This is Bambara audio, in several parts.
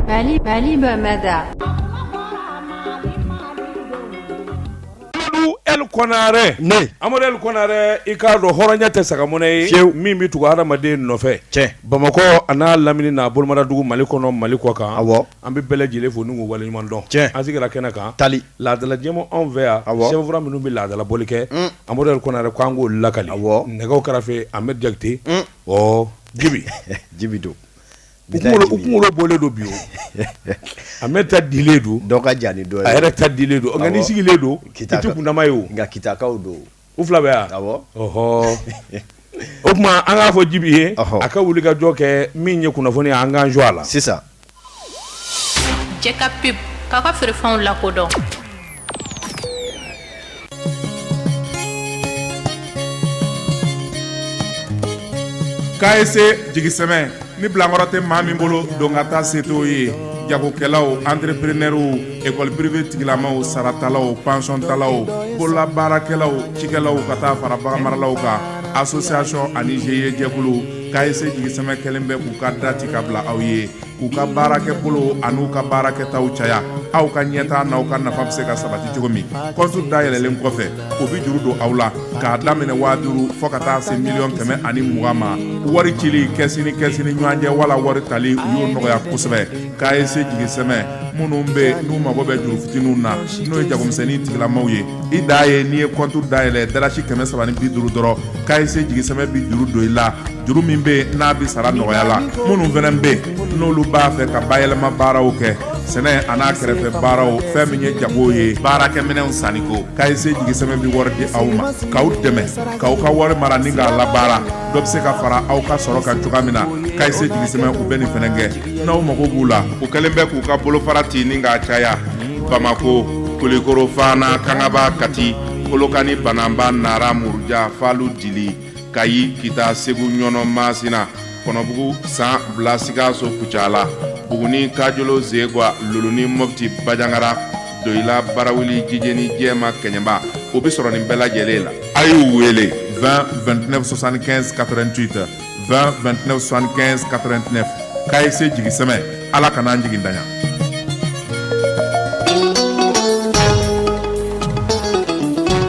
Mali Mali Bamada Amadou El Konare ne Amadou El Konare i k'a dɔn hɔrɔnya tɛ sagamɔnɛ ye fiyewu min bɛ tugu hadamaden nɔfɛ tiɲɛ Bamakɔ an'a lamini n'a bolomadadugu Mali kɔnɔ Mali kɔkan awɔ an bɛ bɛɛ lajɛlen fo n'u k'u waleɲuman dɔn tiɲɛ an sigira kɛnɛ kan tali laadala jɛmu anw fɛ yan awɔ sɛbɛnfura minnu bɛ laadala bɔli kɛ Amadou El Konare k'an k'olu lakali awɔ nɛgɛw karafe Ahmed Jakite ɔɔ jibi jibi don u kunkolo bɔlen don bi o Ahmed ta dilen don dɔ ka jan ni dɔ a yɛrɛ ta dilen don nka n'i sigilen don i t'u kundama ye o nka kitakaw don u fila bɛ yan awɔ ɔhɔ o tuma an k'a fɔ jibi ye a ka wuli ka jɔ kɛ min ye kunnafoni ye an k'an jɔ a la c'est ça Jɛ ka pub k'a ka feerefɛnw lakodɔn CAECE Jigisɛmɛ ni bilankɔrɔ tɛ maa min bolo don ka taa se t'o ye jagokɛlaw antreprenɛrw ekɔli prive tigilamaw saratalaw pansiontalaw bololabaarakɛlaw cikɛlaw ka taa fara baganmaralaw kan association ani GIE jɛkulu CAECE Jigisɛmɛ kɛlen bɛ k'u ka da ci ka bila aw ye k'u ka baarakɛbolo an'u ka baarakɛtaw caya aw ka ɲɛtaa n'aw ka nafa bɛ se ka sabati cogo min kɔntu dayɛlɛlen kɔfɛ u bɛ juru don aw la k'a daminɛ waa duuru fo ka taa se miliyɔn kɛmɛ ani mugan ma wari cili kɛsi ni kɛsi ni ɲɔgɔn cɛ wala wari tali u y'o nɔgɔya kosɛbɛ CAECE Jigisɛmɛ minnu bɛ n'u mago bɛ juru fitininw na n'o ye jagomisɛnnin tigilamaw ye i da ye n'i ye kɔntu dayɛlɛn dalasi kɛmɛ saba ni bi duuru dɔrɔn CAECE Jigisɛmɛ bɛ juru don i la juru min bɛ n'a bɛ sara nɔgɔya la minnu fana bɛ n'olu b'a fɛ ka bayɛlɛma baaraw kɛ sɛnɛ an'a kɛrɛfɛ baaraw fɛn min ye jago ye baarakɛminɛnw sanniko CAECE Jigisɛmɛ bɛ wari di aw ma k'aw dɛmɛ k'aw ka wari mara ni k'a labaara dɔ bɛ se ka fara aw ka sɔrɔ kan cogoya min na CAECE Jigisɛmɛ u bɛ nin fana kɛ n'aw mago b'u la u kɛlen bɛ k'u ka bolofara ci ni k'a caya bamakɔ kulikoro fana kangaba kati kolokani banamba nara muruja falu dili kayi kita segu ɲɔnɔ masina kɔnɔbugu san bila sikaso kucala buguni kajolo zegwa luluni mɔfti bajangara doyila barawuli jijeni jɛma kɛɲɛba u bɛ sɔrɔ nin bɛɛ lajɛlen la a y'u wele 20 29 75 88 2tɛnɛnsan2ɛnɛ2tɛnɛ ka ye se jigi sɛ ala kana n'an jigin daɲɔgɔn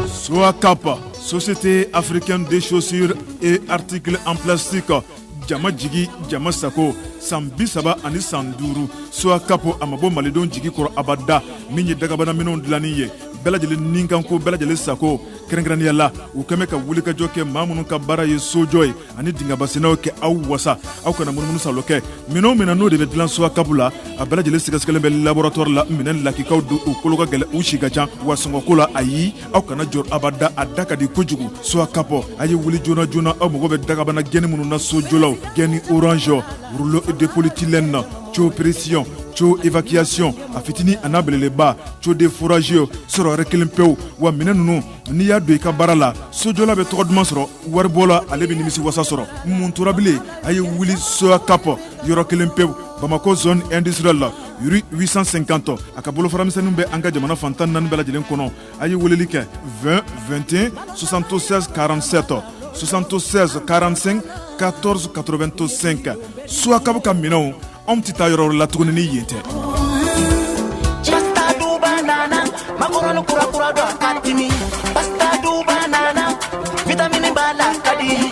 su ka pan sosi tɛ afirikɛn de sosi e ritiki an filɛsi kan jama jigin jama sago san bi saba ani san duuru su kap a ma bɔ malidenw jigi kɔrɔ abada min ye dagabanaminɛ dilain ye bɛɛ lajɛlen ni kanko bɛɛ lajɛlen sago kɛrɛnkɛrɛnnenya la u kɛmɛ ka wulikajɔ kɛ maa minnu ka baara ye sojɔ ye ani dingɛbasennaw kɛ aw wasa aw kana munumunu salo kɛ minɛn o minɛn n'o de bɛ dilan Soacap la a bɛɛ lajɛlen sɛgɛsɛgɛlen bɛ laboratoire la minɛn lakikaw don u kolo ka gɛlɛn u si ka ca wa sɔngɔko la ayi aw kana jɔrɔ abada a da ka di kojugu Soacap a ye wuli joona joona aw mago bɛ dakabana gaine minnu na sojɔlaw gaine orange rouleau de polyéthylène tuyau pression tuyau évacuation a fitini a n'a belebeleba tuyau de forage sɔrɔyɔrɔ kelen pewu wa minɛn ninnu n'i y'a don i ka baara la sojɔla bɛ tɔgɔ duman sɔrɔ waribɔla ale bɛ nimisi wasa sɔrɔ mun tora bilen a ye wuli Soacap yɔrɔ kelen pewu bamakɔ zone industrielle la rue 850 a ka bolofara misɛnninw bɛ an ka jamana fan tan naani bɛɛ lajɛlen kɔnɔ a ye weleli kɛ 20 21 76 47 76 45 14 85 Soacap ka minɛnw anw tɛ taa yɔrɔ la tuguni ni yen tɛ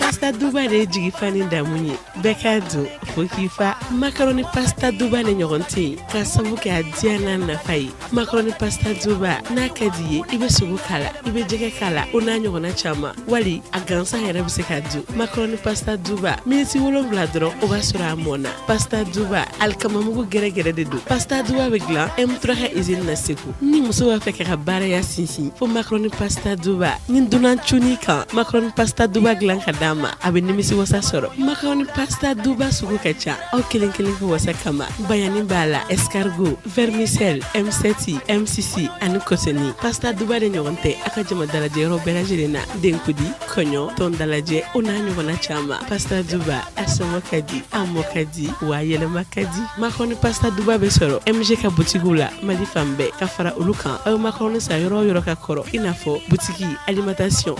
pasta duba de ye jigifa ni damu ye bɛɛ k'a dun fo k'i fa makarɔni pasta duba de ɲɔgɔn tɛ yen ka sabu kɛ a diya n'a nafa ye makarɔni pasta duba n'a ka d'i ye i bɛ sogo k'a la i bɛ jɛgɛ k'a la o n'a ɲɔgɔnna caman wali a gansan yɛrɛ bɛ se ka dun makarɔni pasta duba miniti wolonwula dɔrɔn o b'a sɔrɔ a mɔna pasta duba alikamamugu gɛrɛgɛrɛ de don pasta duba bɛ dilan M3 ka izini na segu ni muso b'a fɛ k'a ka baraya sinsin fo makarɔni pasta duba ni dunan cunn'i kan makarɔni pasta duba dilan ka d'a ma a bɛ nimisi wasa sɔrɔ makarɔni pasta duba sugu ka ca aw kelen kelen ka wasa kama bayani b'a la escargot vermicelle M7 M6 ani kotoni pasta duba de ɲɔgɔn tɛ aw ka jama dalajɛ yɔrɔ bɛɛ lajɛlen na denkundi kɔɲɔ tɔn dalajɛ o n'a ɲɔgɔnna caman pasta duba a sɔngɔ ka di a mɔ ka di wa a yɛlɛma ka di makarɔni pasta duba bɛ sɔrɔ MG ka butigiw la mali fan bɛɛ ka fara olu kan aw bɛ makarɔni san yɔrɔ o yɔrɔ ka kɔrɔ i n'a fɔ butigi alimentation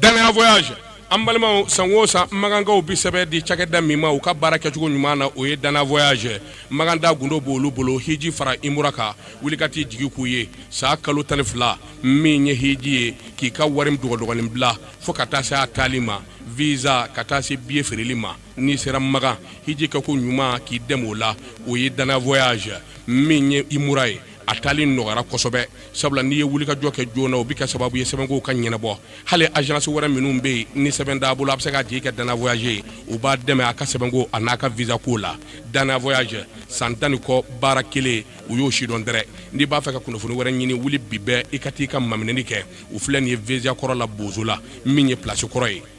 danaya voyage an balimaw san o san makankaw bɛ sɛbɛn di cakɛda min ma u ka baara kɛcogo ɲuman na o ye danaya voyage makantaa gundo b'olu bolo hiji fara umura kan wuli ka t'i jigi k'u ye san kalo tan ni fila min ye hiji ye k'i ka wari dɔgɔdɔgɔnin bila fo ka taa se a taali ma visa ka taa se biye feereli ma n'i sera makan hiji kɛ ko ɲuman k'i dɛmɛ o la o ye danaya voyage min ye umura ye a taali nɔgɔyara kosɛbɛ sabula n'i ye wulikajɔ kɛ joona o bɛ kɛ sababu ye sɛbɛnkow ka ɲɛnabɔ hali agence wɛrɛ minnu bɛ yen ni sɛbɛn t'a bolo a bɛ se k'a jigi kɛ danaya voyage ye u b'a dɛmɛ a ka sɛbɛnko a n'a ka visa ko la danaya voyage san tan ni kɔ baara kelen u y'o sidɔn dɛrɛ n'i b'a fɛ ka kunnafoni wɛrɛ ɲini wuli bi bɛɛ i ka t'i ka maminɛni kɛ u filɛ nin ye visa kɔrɔ la bozola min ye place kɔrɔ ye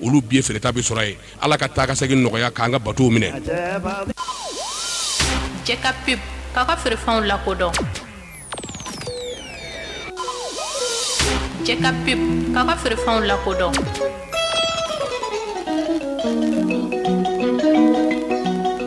olu biye feereta bɛ sɔrɔ yen ala ka taa ka segin nɔgɔya k'an ka bato minɛ k'a ka feerefɛnw lakodɔn ka ka ka feerefɛnw lakodɔn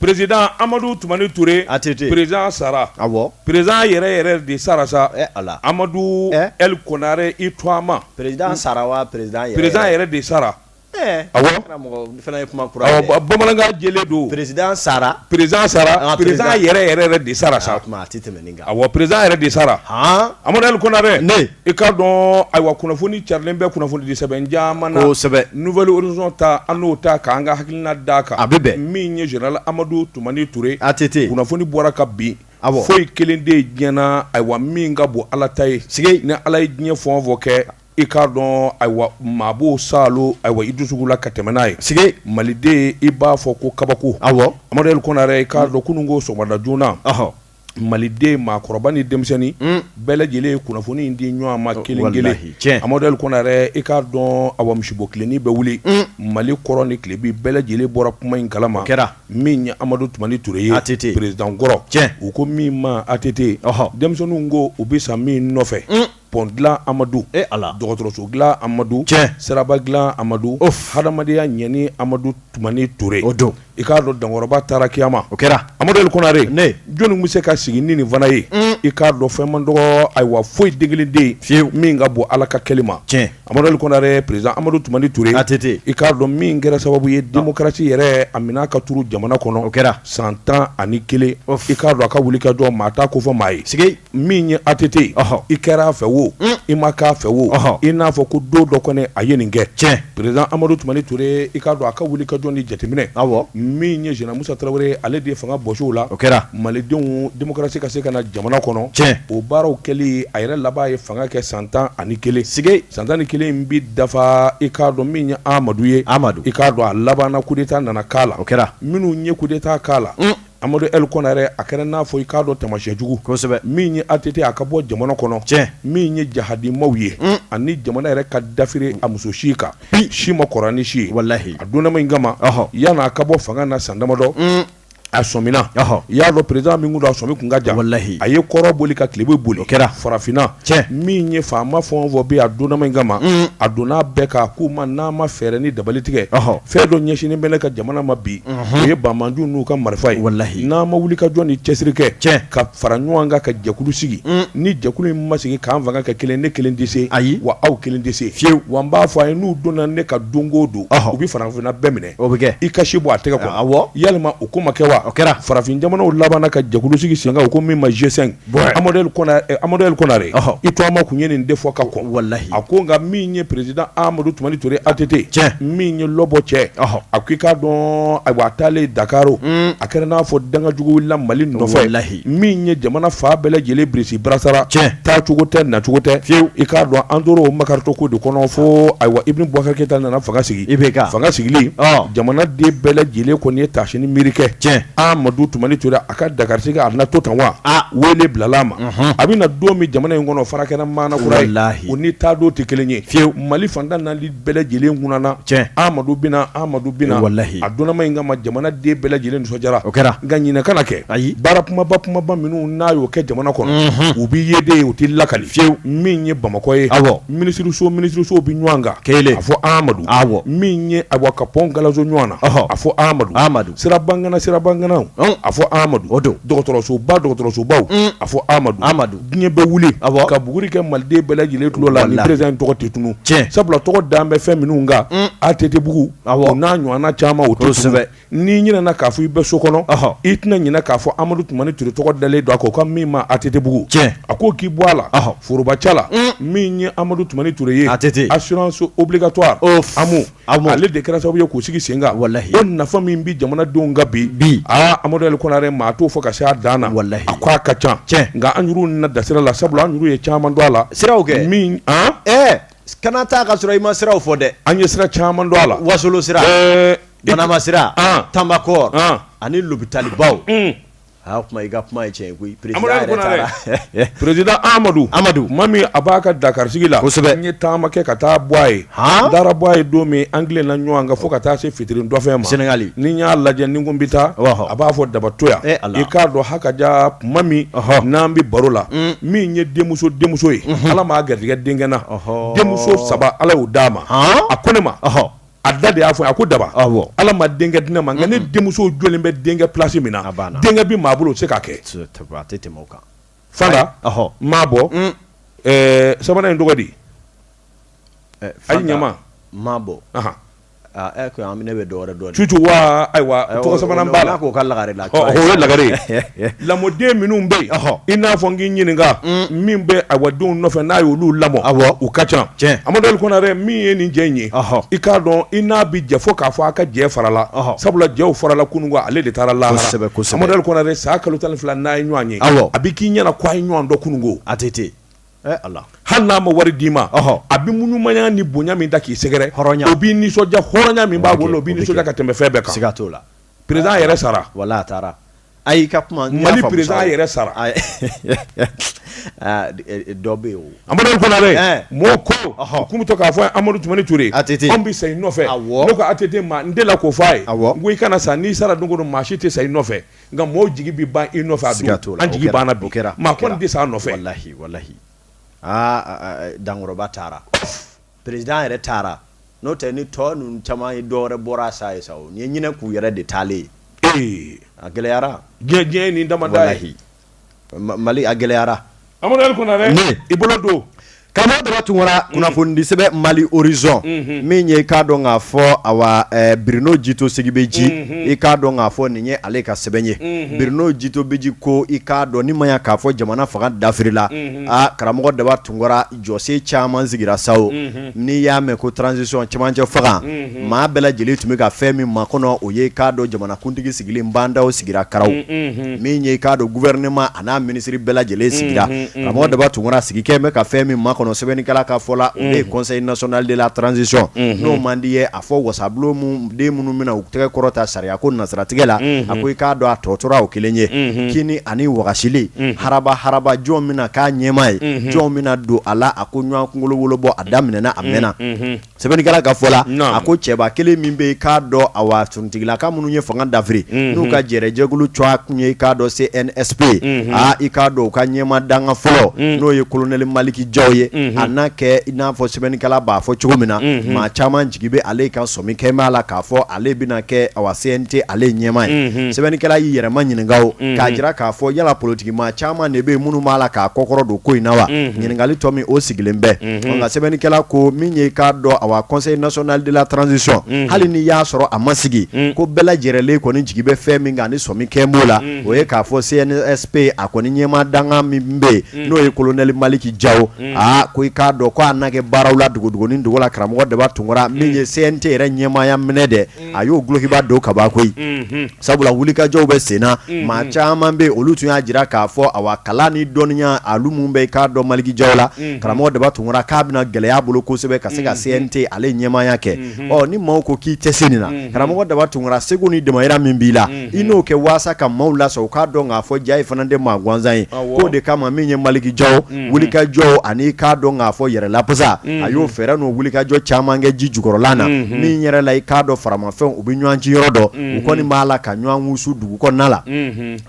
perezidan amadu tumani toure atete perezidan sara awɔ perezidan yɛrɛ yɛrɛ de sara sa a amadu L. konare i tu ma perezidan sara wa perezidan yɛrɛ de sara awɔ kuma bamanankan jɛlen don perezidan sara perezidan yɛrɛ yɛrɛ de sara sa tɛmɛ Awa perezidan yɛrɛ de sara amadu L. konare i k'a dɔn ayiwa kunnafoni carilen bɛ kunnafonidi sɛbɛn caman na kosɛbɛ Nouvel Horizon ta an n'o ta k'an ka hakilina da a kan a bɛ bɛn min ye zenerali amadu tumani ture atete kunnafoni bɔra ka bin awɔ foyi kelen tɛ diɲɛ na ayiwa min ka bon ala ta ye sike ni ala ye diɲɛ fɛn o fɛn kɛ i k'a dɔn ayiwa maa b'o saalo ayiwa i dusukun na ka tɛmɛ n'a ye sike maliden i b'a fɔ ko kabako awɔ amadu L. konare i k'a dɔn kunun ko sɔgɔmada joona maliden maakɔrɔba ni denmisɛnnin hmm. bɛɛ lajɛlen ye kunnafoni in di ɲɔgɔn ma kelen kelen amadu L. kɔnare i k'a dɔn awa musiba o kɛlen i bɛ wuli hmm. mali kɔrɔn ni tilebin bɛɛ lajɛlen bɔra kuma in kalama kɛra min ye amadu tumani ture ye atete perezidankɔrɔ u ko min ma atete denmisɛnninw ko u bɛ sa min nɔfɛ hmm. pont dilan Amadu, e Ala, dɔgɔtɔrɔso dilan Amadu, tiɲɛ, siraba dilan Amadu, ouf, hadamadenya ɲɛni Amadu Tumani Ture, o don, i k'a dɔn dankɔrɔba taara kiyama, o kɛra, Amadu L. Konare, ne, jɔni kun bɛ se ka sigi ni nin fana ye, un, i k'a dɔn fɛn man dɔgɔ, ayiwa foyi den kelen tɛ yen, fiyewu, min ka bon Ala ka kɛli ma, tiɲɛ, Amadu L. Konare, president Amadu Tumani Ture, ATT, i k'a dɔn min kɛra sababu ye democratie yɛrɛ a minɛ ka turu jamana kɔnɔ, o kɛra, san tan ani kelen, ouf, i k'a dɔn a ka wulikajɔ maa t'a kofɔ maa ye, sikeyi. min ye ATT ye, ɔhɔ, i kɛra a fɛ wo, un, i ma k'a fɛ wo, ɔhɔ, i n'a fɔ ko don dɔ kɔni a ye nin kɛ, tiɲɛ, président Amadou Toumani Touré i k'a dɔn a ka wulikajɔ ni jateminɛ, awɔ, min ye général Moussa Traoré ye ale de ye fanga bɔsi o la, o kɛra, malidenw démocratie ka se ka na jamana kɔnɔ, tiɲɛ, o baaraw kɛli a yɛrɛ laban ye fanga kɛ san tan ani kelen, sike, san tan ni kelen in bɛ dafa i k'a dɔn min ye Amadou ye, Amadou, i k'a dɔn a labanna coup d'Etat nana k'a la, o kɛra, minnu ye coup d'Etat k'a la, un Amadu L. Kɔnare a kɛra n'a fɔ i k'a dɔn tamasiyɛn jugu, kosɛbɛ, min ye ATT a ka bɔ jamana kɔnɔ, tiɲɛ, min ye jahadimaw ye, un, ani jamana yɛrɛ ka dafiri a muso si kan, bi, si man kɔrɔ ni si ye, walahi, a donnama in kama, ɔhɔ, yani a ka bɔ fanga na san damadɔ, un, a sɔmina, ɔhɔ, i y'a dɔn président min kun don a sɔmi kun ka jan, walahi, a ye kɔrɔn boli ka tilebin boli, o kɛra, farafinna tiɲɛ min ye faama fɛn o fɛn bi a donna min kama a donna bɛɛ kan k'u ma n'a ma fɛɛrɛ ni dabali tigɛ fɛn dɔ ɲɛsinnen bɛ ne ka jamana ma bi o ye banbaanciw n'u ka marifa ye walahi n'a ma wuli ka jɔ ni cɛsiri kɛ tiɲɛ ka fara ɲɔgɔn kan ka jɛkulu sigi ni jɛkulu in ma sigi k'an fanga kɛ kelen ne kelen tɛ se ayi wa aw kelen tɛ se fiyewu wa n b'a fɔ a ye n'u donna ne kan don o don u bɛ farafinna bɛɛ minɛ o bɛ kɛ i kasi bɔ a tɛgɛ kɔ yalima o ko ma kɛ wa o kɛra farafin jamanaw labanna ka jɛkulu sigi sen kan o ko min ma G5 bɔn amadu ali konare i tɔgɔma kun ye nin de fɔ ka kɔn walahi a ko nka min ye président amadu tumani ture ATT tiɲɛ min ye lɔbɔ cɛ a ko i k'a dɔn ayiwa a taalen dakari a kɛra n'a fɔ dangajugu wulila mali nɔfɛ walayi min ye jamana fan bɛɛ lajɛlen birisi barasara tiɲɛ taacogo tɛ nacogo tɛ fiyewu i k'a dɔn an tora o makarito ko de kɔnɔ fo ayiwa ibrahim bubakar keyita nana fanga sigi IBK fanga sigilen jamana den bɛɛ lajɛlen kɔni ye tasi ni miiri kɛ tiɲɛ amadu tumani ture a ka dakari sigi a na to tan wa weele bilala a ma a bɛ na don min jamana in kɔnɔ fara kɛra maana kura o ni taa don tɛ kelen ye fiyewu mali faantan nali bɛɛ lajɛlen kununna tiɲɛ amadu bɛna amadu bɛna walayi a dɔnnama in kama jamana den bɛɛ lajɛlen nisɔndiyara o kɛra nka ɲinɛ kana kɛ ayi baara kunbaba kunbaba minnu n'a y'u kɛ jamana kɔnɔ u bɛ ye de u tɛ lakali fiyewu min ye bamakɔ ye awɔ minisiriso minisirisow bɛ ɲɔgɔn kan ke a fɔ amadu awɔ min ye a ka pɔn galaso ɲɔgɔn na a fɔ amadu amadu sirabangana sirabanganaw, un, a fɔ Amadu, o don, dɔgɔtɔrɔsoba dɔgɔtɔrɔsobaw, un, a fɔ Amadu, Amadu, diɲɛ bɛ wuli, awɔ, ka buguri kɛ Maliden bɛɛ lajɛlen tulo la ni président in tɔgɔ tɛ tunun, tiɲɛ, sabula tɔgɔ dalen bɛ fɛn minnu kan, un, ATT bugu, awɔ, o n'a ɲɔgɔnna caman o tɛ tunun, kosɛbɛ, n'i ɲinɛna k'a fɔ i bɛ so kɔnɔ, ɔhɔ, i tɛna ɲinɛ k'a fɔ Amadu Tumani Ture tɔgɔ dalen don a kan o ko min ma ATT bugu, tiɲɛ, a ko k'i bɔ a la, ɔhɔ, forobaca la, un, min ye Amadu Tumani Ture ye, ATT, assurance obligatoire, ɔhɔ, AMO Ale de kɛra sababu ye k'o sigi sen kan walahi o nafa min bɛ jamanadenw kan bi amadu ali konare maa t'o fɔ ka se a dan na walahi a ko a ka ca tiɲɛ nka an juru na da sira la sabula an juru ye caman don a la siraw kɛ min ɛɛ kana taa ka sɔrɔ i ma siraw fɔ dɛ an ye sira caman don a la wasolon sira banamba sira tanbakɔrɔ ani lopitalibaw Aa kuma i ka kuma ye tiɲɛ ye koyi président yɛrɛ taara Amadu Ali Konare président Amadu Amadu tuma min a b'a ka Dakar sigi la kosɛbɛ n ye taama kɛ ka taa bɔ a ye haan n taara bɔ a ye don min an tilenna ɲɔɔn kan fo ka taa se fitiri dɔfɛn ma Senegali ni n y'a lajɛ ni n ko n be taa ɔhɔ a b'a fɔ daba to yan ee Ala i k'a dɔn hakajaa tuma min ɔhɔ n'an be baro la uun min ye denmuso denmuso ye unhun Ala m'a garijigɛ denkɛ na ɔhɔɔ denmuso 3 Ala y'u d'a ma haan a ko ne ma ɔhɔ a da de y'a fɔ a ko daba ala ma denkɛ di ne ma nka ne denmuso jɔlen bɛ denkɛ plasi min na denkɛ bɛ maa bolo o tɛ se k'a kɛ fanta mabo mm. eh, sabanan in tɔgɔ di eh, a ɲama mabo ne bɛ dɔw dɔn tutu wa ayiwa tɔgɔ sabanan b'a la k'o ka lagare la o ye lagare Lamɔden minnu bɛ yen i n'a fɔ n k'i ɲininka min bɛ awa denw nɔfɛ n'a ye olu lamɔ u ka ca amadu ali konare min ye nin jɛ in ye i k'a dɔn i n'a bɛ jɛ fo k'a fɔ a ka jɛ farala sabula jɛ farala kunun ko ale de taara lahara amadu ali konare san kalo tan fila n'a ye ɲɔgɔn ye a bɛ k'i ɲɛna k' a ye ɲɔgɔn dɔn kunun ko ATT hali n'a ma wari d'i ma a bɛ maaɲumanya ni bonya min ta k'i sɛgɛrɛ o b'i nisɔndiya hɔrɔnya min b'a bolo o b'i nisɔndiya ka tɛmɛ fɛn bɛɛ kan siga t'o la président yɛrɛ sara wala a taara a y'i ka kuma mali président yɛrɛ sara dɔ bɛ yen amadu ali konare mɔgɔ ko k'u bɛ to k'a fɔ amadu tumani ture an bɛ sa i nɔfɛ ne ko ATT ma n delila k'o fɔ a ye n ko i kana sa n'i sara don o don maa si tɛ sa i nɔfɛ nka mɔgɔw jigi bɛ ban i nɔfɛ a ka to la an jigi banna bi maa kɔni tɛ sa a nɔfɛ walahi walahi aa dankɔrɔba taara Président yɛrɛ taara n'o tɛ ni tɔ ninnu caman ye dɔwɛrɛ bɔra sa ye sa nin ye ɲinɛ k'u yɛrɛ de taalen ye ee a gɛlɛyara diɲɛ ni dama mali a gɛlɛyara amadu ali konare i bolo don karamɔgɔ daba tunkara kunnafonidisɛbɛ mali horizon min ye i k'a dɔn k'a fɔ awa birino jito segibeji i k'a dɔn k'a fɔ nin ye ale ka sɛbɛn ye birino jito bɛji ko i k'a dɔn ni ma k'a fɔ jamana fanga dafirila aa karamɔgɔ daba tun jɔsen caman sigira sa o, unhun, n'i y'a mɛn ko transition cɛmancɛ fanga, unhun, maa bɛɛ lajɛlen tun bɛ ka fɛn min makɔnɔ o ye i k'a dɔn jamanakuntigi sigili Ba Ndaw sigira karaw, unhun, min ye i k'a dɔn gouvernement a n'a minisiri bɛɛ lajɛlen sigira, unhun, unhun, karamɔgɔ Daba Tunkara sigi kɛ bɛ ka fɛn min makɔnɔ sɛbɛnnikɛla ka fɔ la o de ye conseil national de la transition n'o man d'i ye fɔ wasabulon mun den minnu bɛna u tɛgɛ kɔrɔ ta sariya ko nasiratigɛ la a ko i k'a dɔn a tɔ tora o kelen ye kini ani wagasili haraba haraba jɔn bɛna k'a ɲɛmaa ye jɔn bɛna don a la a ko ɲɔgɔn kunkolo wolo bɔ a daminɛna a mɛnna sɛbɛnnikɛla ka fɔ la a ko cɛba kelen min bɛ i k'a dɔn awa suntigila ka minnu ye fanga dafiri n'u ka jɛrɛjɛkulu tɔgɔ tun ye i k'a dɔn CNSP ye aa i k'a dɔn u ka ɲɛmaa dankan fɔlɔ n'o ye kolonɛli maliki jaw ye a n'a kɛ n'a fɔ sɛbɛnnikɛla b'a fɔ cogo min na maa caman jigi bɛ ale kan sɔmi kɛ b'a la k'a fɔ ale bɛna kɛ awa CNT ale ɲɛmaa ye sɛbɛnnikɛla y'i yɛrɛma ɲininka k'a jira k'a fɔ yala politiki maa caman de bɛ minnu b'a la k'a kɔkɔrɔdon ko in na wa ɲininkali tɔ min o sigilen bɛ nka sɛbɛnnikɛla ko min ye k'a dɔn awa conseil national de la transition hali ni y'a sɔrɔ a ma sigi ko bɛɛ lajɛlen kɔni jigi bɛ fɛn min kan ni sɔmi kɛ b'o la o ye k'a fɔ CNSP a kɔni ɲɛmaa dankan min bɛ yen n'o ye kolonɛli maliki ja aa ko i k'a dɔn ko a na kɛ baaraw la dogodogonin dogo la karamɔgɔ daba tunkara min ye CNT yɛrɛ ɲɛmaaya minɛ dɛ a y'o golokiba don kabako ye sabula wulikajɔw bɛ senna maa caman bɛ olu tun y'a jira k'a fɔ awa kalan ni dɔnniya ale min bɛ i k'a dɔn maliki jaw la karamɔgɔ daba tunkara k'a bɛna gɛlɛya a bolo kosɛbɛ ka se ka CNT ale ɲɛmaaya kɛ ni maaw ko k'i tɛ se nin na karamɔgɔ daba tunkara seko ni damayira min b'i la i n'o kɛ walasa ka maaw lasɔn u k'a dɔn k'a fɔ jaa e fana tɛ maa gansan ye o de kama min ye maliki jaw wulikajɔ ani k'a dɔn k'a fɔ yɛrɛ lafasa a y'o fɛɛrɛ n'o wulikajɔ caman kɛ ji jukɔrɔla na min yɛrɛ la i k'a dɔn faramafɛn u bɛ ɲɔgɔn ci yɔrɔ dɔn u kɔni b'a la ka ɲɔgɔn wusu dugu kɔnɔna la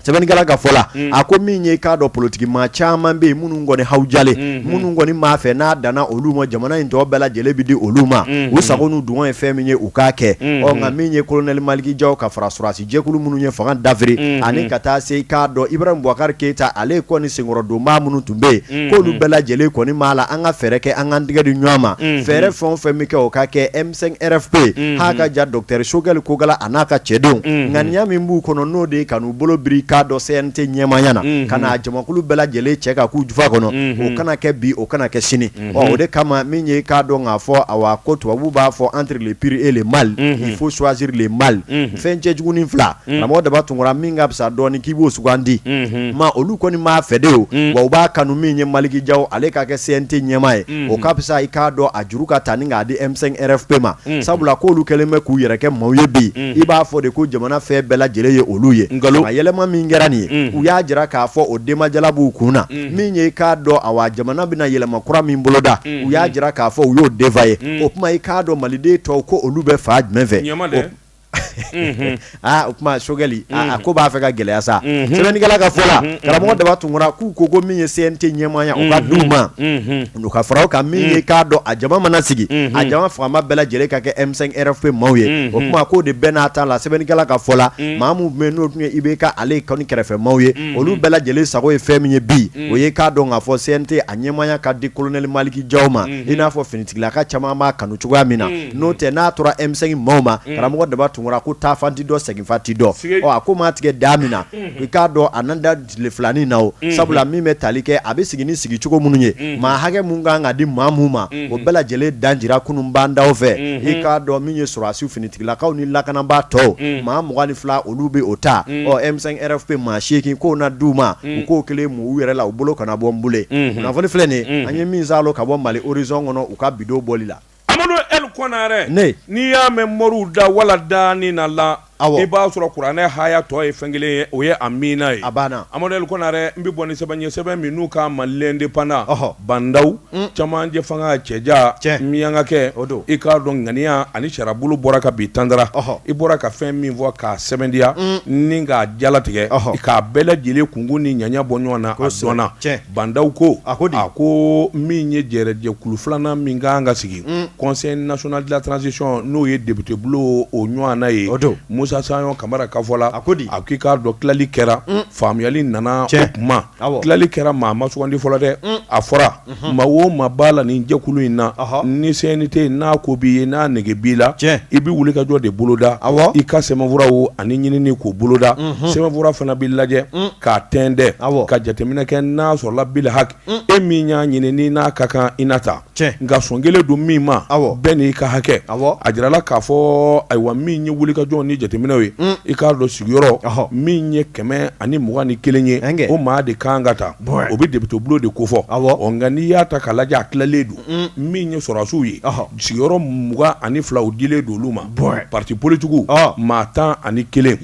sɛbɛnnikɛla ka fɔ la a ko min ye k'a dɔn politigi maa caman bɛ yen minnu kɔni hawujalen minnu kɔni m'a fɛ n'a danna olu ma jamana in tɔ bɛɛ lajɛlen bɛ di olu ma u sago n'u dungɔ ye fɛn min ye u k'a kɛ ɔ nka min ye kolonɛli maliki jaw ka fara sɔrɔdasi jɛkulu minnu ye fanga dafiri ani ka taa se k'a dɔn ibrahim bubakari keyita ale kɔni senkɔrɔdonbaa minnu tun bɛ yen k'olu bɛɛ lajɛlen kɔni b'a la an ka fɛɛrɛ kɛ an ka tigɛ di ɲɔgɔn ma fɛɛrɛ fɛn o fɛn bɛ kɛ o ka kɛ RFP a ka ja dɔkitɛri sogɛli kokala a n'a ka cɛdenw ŋaniya min b'u kɔnɔ n'o de ye ka n'u bolo biri k'a dɔn CNT ɲɛmaaya na ka n'a jamakulu bɛɛ lajɛlen cɛ ka k'u jufa kɔnɔ o kana kɛ bi o kana kɛ sini o de kama min ye k'a dɔn k'a fɔ awa ko tubabu b'a fɔ entre le pire et le mal il faut choisir le mal fɛn cɛjugunin fila karamɔgɔ daba tunkara min ka fisa dɔɔni k'i b'o sugandi maa olu kɔni m'a fɛ de wa u b'a kanu min ye maliki jaw ale ka kɛ CNT ɲɛmaa ye o ka fisa i k'a dɔn a juru ka ta ni k'a di M5 RFP ma sabula k'olu kɛlen bɛ k'u yɛrɛ kɛ maaw ye bi i b'a fɔ de ko jamana fɛn bɛɛ lajɛlen ye olu ye nka yɛlɛma min kɛra nin ye u y'a jira k'a fɔ o denbajala b'u kun na min ye i k'a dɔn awa jamana bɛna yɛlɛma kura min boloda u y'a jira k'a fɔ u y'o denfa ye o kuma i k'a dɔn maliden tɔw ko olu bɛ fa jumɛn fɛ aa o kuma sogɛli aa a ko b'a fɛ ka gɛlɛya sa sɛbɛnnikɛla ka fɔ la karamɔgɔ daba tunkara k'u ko ko min ye CNT ɲɛmaaya o ka d'u ma u ka fara o kan min ye k'a dɔn a jama mana sigi a jama fagama bɛɛ lajɛlen ka kɛ M5 RFP maaw ye o kuma k'o de bɛɛ n'a ta la sɛbɛnnikɛla ka fɔ la maa minnu bɛ yen n'o tun ye IBK ale kɔni kɛrɛfɛ maaw ye olu bɛɛ lajɛlen sago ye fɛn min ye bi o ye k'a dɔn k'a fɔ CNT a ɲɛmaaya ka di Kolonɛli Maliki Jaw ma i n'a fɔ finitigilaka caman b'a kanu cogoya min na n'o tɛ n'a tora M5 maaw ma karamɔgɔ daba tunkara ko taa fan ti dɔn segin fan ti dɔn a ko maa tigɛ da min na i k'a dɔn a nan da tile filanin na o sabula min bɛ tali kɛ a bɛ sigi ni sigi cogo minnu ye maa hakɛ min kan ka di maa min ma o bɛɛ lajɛlen dajira kunun ba ndaw fɛ i k'a dɔn min ye sɔrɔdasiw finitigilakaw ni lakanabaa tɔw maa mugan ni fila olu bɛ o ta M5 RFP maa seegin k'o na di u ma u k'o kelen mɔgɔw yɛrɛ la u bolo kana bɔ n bolo kunnafoni filɛ nin ye an ye min sɔrɔ ka bɔ mali horizon kɔnɔ bɔli la amadu ɛli konare n'i y'a mɛn mori da wala daani na la i b'a sɔrɔ kuranɛ haya tɔ ye fɛn kelen ye o ye amina ye amadu ɛli konare n bɛ bɔ ni sɛbɛn ye sɛbɛn min n'u k'a ma l'indépendant ba ndaw camancɛ fanga cɛja miyankakɛ i k'a dɔn ŋaniya ani sariyabolo bɔra ka bi tandara i bɔra ka fɛn min fɔ k'a sɛmɛntiya ni k'a jalatigɛ k'a bɛɛ lajɛlen kunkun ni ɲaɲa bɔ ɲɔgɔn na o sɔnna Bandaw ko a ko a ko min ye jɛrɛjɛkulu filanan min ka kan ka sigi conseil national de la transition n'o ye depitebulon o ɲɔgɔnna ye o don Musa Sayɔn Kamara ka fɔ la a ko a k'i k'a dɔn tilali kɛra faamuyali nana cɛ o kuma tilali kɛra maa ma sugandi fɔlɔ dɛ a fɔra maa o maa b'a la nin jɛkulu in na ni CNT n'a ko b'i ye n'a nege b'i la cɛ i bɛ wulikajɔ de boloda a i ka sɛbɛnfuraw ani ɲinini k'o boloda sɛbɛnfura fana bɛ lajɛ k'a tɛntɛn ka jateminɛ kɛ n'a sɔrɔla bil haki e min y'a ɲini ni n'a ka kan i na ta nka sɔn kɛlen don min ma bɛɛ n'i ka hakɛ a jirala k'a fɔ ayiwa min ye wulikajɔ ni jateminɛw ye i k'a dɔn sigiyɔrɔ min ye kɛmɛ ani mugan ni kelen ye o maa de ka kan ka ta o bɛ depitebulon de kofɔ nka n'i y'a ta k'a lajɛ a tilalen don min ye sɔrɔdasiw ye sigiyɔrɔ mugan ani fila o dilen don olu ma pati politigiw maa tan ani kelen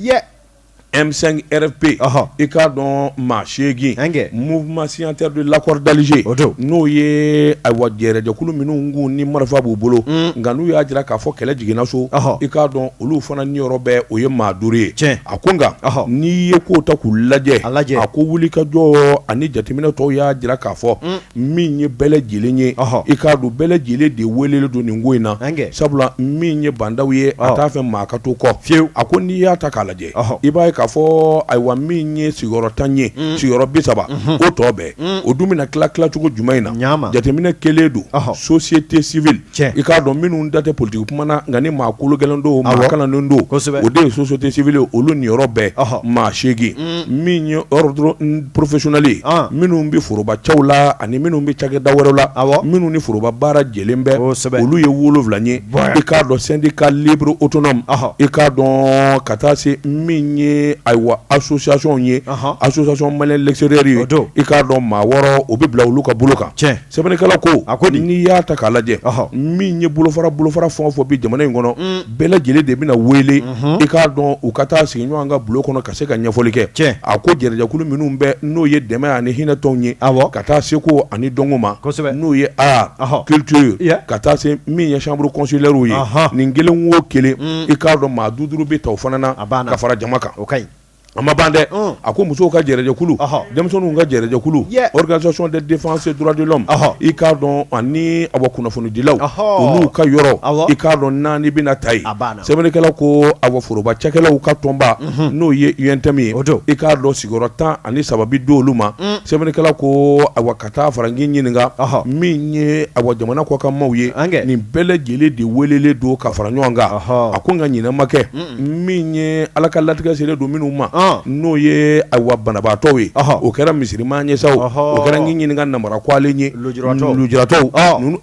M5 RFP ɔhɔ i k'a dɔn maa seegin Ɛnkɛ. mouvement signataire de l'accord d'Alger O don. n'o ye ayiwa jɛrɛjɛkulu minnu k'u ni marifa b'u bolo nka n'u y'a jira k'a fɔ kɛlɛ jiginna so Ɔhɔ. i k'a dɔn olu fana niyɔrɔ bɛɛ o ye maa duuru ye Tiɲɛ. a ko nka Ɔhɔ. n'i ye kow ta k'u lajɛ A lajɛ. a ko wulikajɔ ani jateminɛ tɔw y'a jira k'a fɔ min ye bɛɛ lajɛlen ye i k'a dɔn bɛɛ lajɛlen de welelen don nin ko in na sabula min ye Bandaw ye a t'a fɛ maa ka to kɔ fiyewu a ko n'i y'a ta k'a lajɛ i b'a ye k'a fɔ ayiwa min ye sigiyɔrɔ tan ye sigiyɔrɔ bi saba o tɔ bɛɛ o dun bɛna tila tilacogo jumɛn in na jateminɛ kɛlen don société civile cɛ i k'a dɔn minnu da tɛ politigi kuma na nka ni maa kolo gɛlɛn don maa kalannen don o de ye société civile olu niyɔrɔ bɛɛ maa seegin min ye ordre professionnel ye minnu bɛ foroba cɛw la ani minnu bɛ cakɛda wɛrɛ la a minnu ni foroba baara jɛlen bɛ kosɛbɛ olu ye wolowula ye i k'a dɔn syndicat libre autonome i k'a dɔn ka taa se min ye ayiwa association ye association malien l'extérieur ye i k'a dɔn maa wɔɔrɔ o bɛ bila olu ka bolo kan cɛ Sɛbɛnnikɛla ko a ko n'i y'a ta k'a lajɛ min ye bolofara bolofara fɛn o fɛn bɛ jamana in kɔnɔ bɛɛ lajɛlen de bɛna wele i k'a dɔn u ka taa sigi ɲɔgɔn kan bulon kɔnɔ ka se ka ɲɛfɔli kɛ cɛ a ko jɛrɛjɛkulu minnu bɛ n'o ye dɛmɛ ani hinɛ tɔnw ye aw ka taa seko ani dɔnko ma n'u ye art culture ye ka taa se min ye chambre consulairew ye nin kelen o kelen i k'a dɔn maa duuru duuru bɛ ta o fana na a' ka fara jama kan o ka ɲi A ma ban dɛ a ko musow ka jɛrɛjɛkulu denmisɛnninw ka jɛrɛjɛkulu organisation de défense des droits de l'homme i k'a dɔn ani awa kunnafonidilaw olu ka yɔrɔ i k'a dɔn naani bɛna ta yen sɛbɛnnikɛla ko awa foroba cɛkɛlaw ka tɔnba n'o ye UNTM ye o i k'a dɔn sigiyɔrɔ tan ani saba bɛ di olu ma sɛbɛnnikɛla ko awa ka taa fara n ɲininka min ye awa jamana kɔkan maaw ye nin bɛɛ lajɛlen de welelen don ka fara ɲɔgɔn kan a ko n ka ɲɛnama kɛ min ye ala ka latigɛ selen don minnu ma n'o ye awa banabaatɔw ye o kɛra misiri ma ɲɛ sa o kɛra n b'i ɲininka namara k'ale ye lujuratɔw ninnu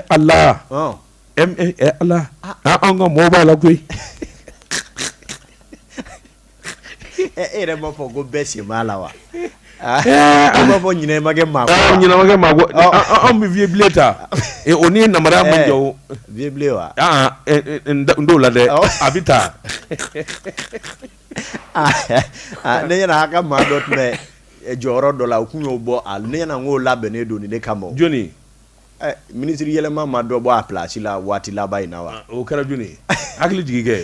ala ala an ka mɔgɔ b'a la koyi e yɛrɛ b'a fɔ ko bɛɛ sen b'a la wa An b'a fɔ ɲinɛ ma kɛ maa ɲinɛ ma kɛ maa kɔ anw bɛ vieux bilen ta o ni na ma jɔ vieux wa n t'o la dɛ a bɛ taa ne ɲɛna a ka maa dɔ tun bɛ jɔyɔrɔ dɔ la u tun y'o bɔ a ne ɲɛna k'o labɛnnen don ne kama jɔnni minisiri yɛlɛma maa dɔ bɔ a plasi la waati laban in na wa o kɛra jɔnni hakilijigi kɛ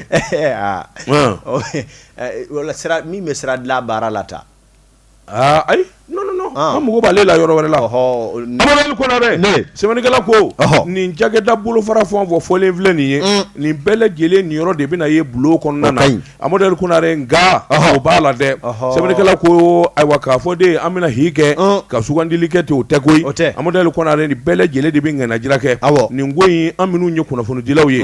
wala min bɛ sira dilan baara la tan Ayi an mako b'ale la yɔrɔ wɛrɛ la sɛbɛnnikɛla ko nin cakɛda bolofara fɛn o fɛn fɔlen filɛ nin ye nin bɛɛ lajɛlen nin yɔrɔ de bɛna ye bulon kɔnɔna na amadu konare nka o b'a la dɛ sɛbɛnnikɛla ko ayiwa k'a fɔ de an bɛna hi kɛ ka sugandili kɛ ten o tɛ koyi amadu konare nin bɛɛ lajɛlen de bɛ ŋaniyajira kɛ nin ko in an minnu ye kunnafonidilaw ye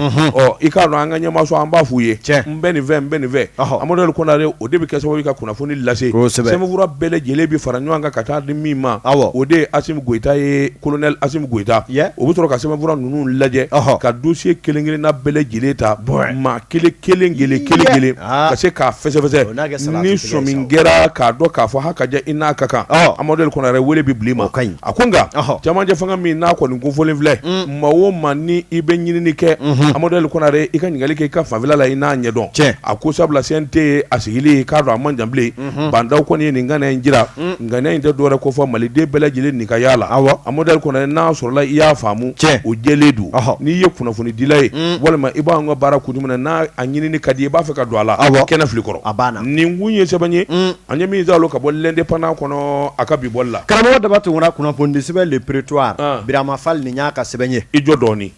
i k'a dɔn an ka ɲɛmaaso an b'a f'u ye bɛ nin fɛ n bɛ nin fɛ amadu konare o de bɛ kɛ sababu ka kunnafoni lase sɛbɛnfura bɛɛ lajɛlen bɛ fara ɲɔgɔn kan ka taa di min ma o de ye asimi goyita ye kolonɛli asimi goyita o bɛ sɔrɔ ka sɛbɛnfura ninnu lajɛ ka dosiye kelen kelenna bɛɛ lajɛlen ta maa kelen kelen kelen ka se k'a fɛsɛfɛsɛ ni sɔmi kɛra k'a dɔn k'a fɔ ha ka jaa i n'a ka kan amadu konare wele bɛ bila i ma a ko nka cɛmancɛ fanga min n'a kɔni kofɔlen filɛ maa o maa ni i bɛ ɲinini kɛ amadu konare i ka ɲininkali kɛ i ka fanfɛla la i n'a ɲɛdɔn cɛ a ko sabula CNT a sigili k'a dɔn a man jan bilen ba ndaw kɔni ye nin ŋaniya in jira ŋaniya in tɛ dɔwɛrɛ kofɔ maliden bɛɛ lajɛlen nin ka ye a la amadu konare n'a sɔrɔla i y'a faamu cɛ o jɛlen don n'i ye kunnafonidila ye walima i b'an ka baara kun jumɛn n'a a ɲinini ka di i b'a fɛ ka don a la aw kɛnɛ filɛ i kɔrɔ a nin kun ye sɛbɛn ye An ye min sɔrɔ ka bɔ l'indépendant kɔnɔ a ka bi bɔli la karamɔgɔ daba tunkara kunnafoni sɛbɛn le prétoire birama fali nin y'a ka sɛbɛn ye i jɔ dɔɔnin